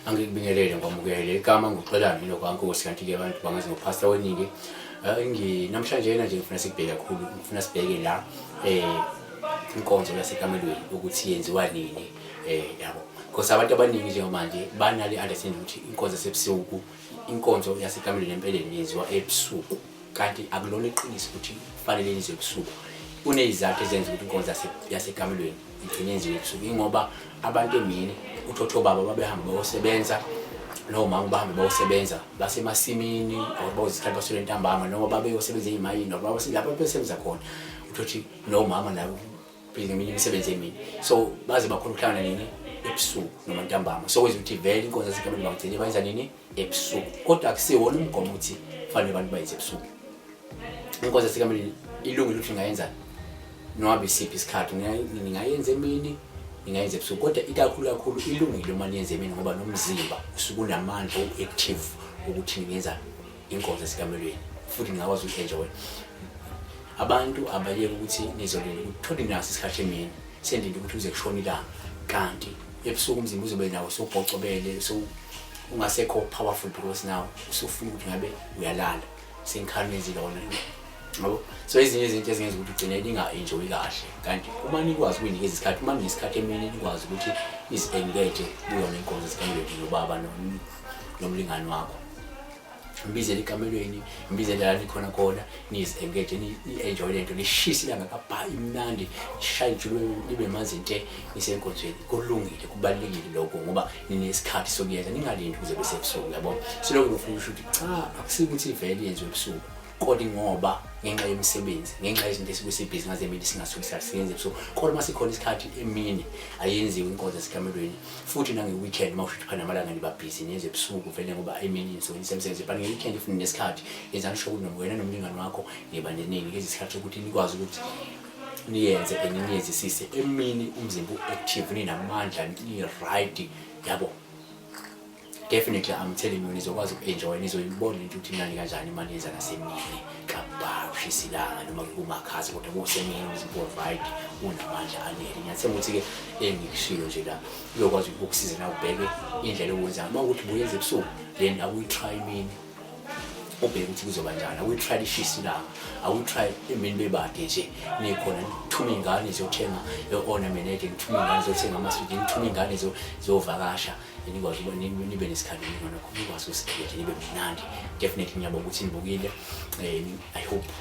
angikubingelele ngwamukele igama nguxolani lokwankosi kanti-ke abantu bangazi ngophasta weningi eh, namhlanje yena nje ngifuna sikubheke kakhulu ngifuna sibheke la um inkonzo yasekamelweni ukuthi yenziwa nini um yabo because abantu abaningi njengamanje banale understanding ukuthi inkonzo yasebusuku inkonzo yasekamelweni empeleni yenziwa ebusuku kanti akulona iqiniso ukuthi kufanele yenziwe ebusuku kuneyizathu ezenza ukuthi inkonzo yasekamelweni igcine yenziwe ebusuku ingoba abantu emini uthotho baba babehamba bayosebenza nomama bahambe bayosebenza basemasimini or bayozisikhathi basole ntambama noma babeyosebenza eyimayini or babasilapho besebenza khona uthothi nomama nawo phela ngeminye imisebenzi emini so baze bakhona ukuhlangana nini ebusuku noma ntambama so kwenza ukuthi vele inkonzo yasekameni bangigcine bayenza nini ebusuku kodwa akusiwona umgomo ukuthi kufanele abantu bayenze ebusuku inkonzo yasekameni ilungile ukuthi ngayenza noma isiphi isikhathi ningayenza emini ningayenza ebusuku kodwa ikakhulu kakhulu ilungile uma niyenza emini ngoba nomzimba usuke unamandla u-active ukuthi ningenza inkonzo esikamelweni futhi ngingakwazi uku-enjoy abantu abayeke ukuthi nizolinde ukuthi thole naso isikhathi emini sendinde ukuthi uze kushona ilanga kanti ebusuku umzimba uzobe nawo sobhocobele ungasekho powerful because now usufuna ukuthi ngabe uyalala senkhalmezi lona yabo so ezinye izinto ezingenza ukuthi ugcine ninga-enjoyi kahle kanti uma nikwazi ukuyinikeza isikhathi uma ninesikhathi emini nikwazi ukuthi nizi-engage kuyona inkonzo zikamelweni nobaba nomlingani wakho mbizele ekamelweni mbizele la nikhona khona niziengage ni-enjoy le nto nishise ilanga kabha imnandi nishaye ijulu libe manzi nte nisenkonzweni kulungile kubalulekile lokho ngoba ninesikhathi sokuyenza ningalindi kuze besebusuku yabo silokhu nofuna usho ukuthi cha akusikuthi vele yenziwe ebusuku kodwa ingoba ngenxa yemisebenzi ngenxa yezinto esikuthi ibhizinisi ngazemini singasuke siyasebenza ebusuku kodwa uma sikhona isikhathi emini ayenziwe inkonzo esikamelweni futhi nange-weekend uma usho ukuthi phana amalanga nibabhizi nenze ebusuku vele ngoba emini nisuke nisemsebenzi but nge-weekend if ninesikhathi yenzani sho ukuthi wena nomlingani wakho niba neningi lezi sikhathi sokuthi nikwazi ukuthi niyenze and niyenzisise emini umzimba u-active ninamandla ni-right yabo definitely I'm telling you nizokwazi uku-enjoy nizoyibona into ukuthi imnandi kanjani uma niyenza nasemini kabha ushisa ilanga noma kumakhaza kodwa kusemini uziprovide unamandla anele ngiyathemba ukuthi-ke engikushilo nje la uyokwazi ukukusiza na ubheke indlela owenza uma ukuthi buyenza ebusuku then awuyi-try imini ubheke ukuthi kuzoba njani awuyi-try lishisa ilanga awuyi-try imini bebade nje nikhona nithume iy'ngane ziyothenga o-ornament nithume iy'ngane ziyothenga amasudi nithume iy'ngane ziyovakasha nikwazi ukuba nibe nesikhathi ningona khona nikwazi ukusipheka nje nibe mnandi definitely ngiyabonga ukuthi nibukile eh, i hope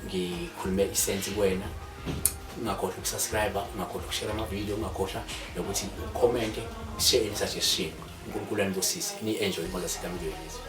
ngikhulume isense kuwena ungakhohlwa ukusubscribe ungakhohlwa ukushare amavidiyo ungakhohlwa nokuthi ukhomente share any suggestion unkulunkulu anibusise ni-enjoy imo zasekamilweni yethu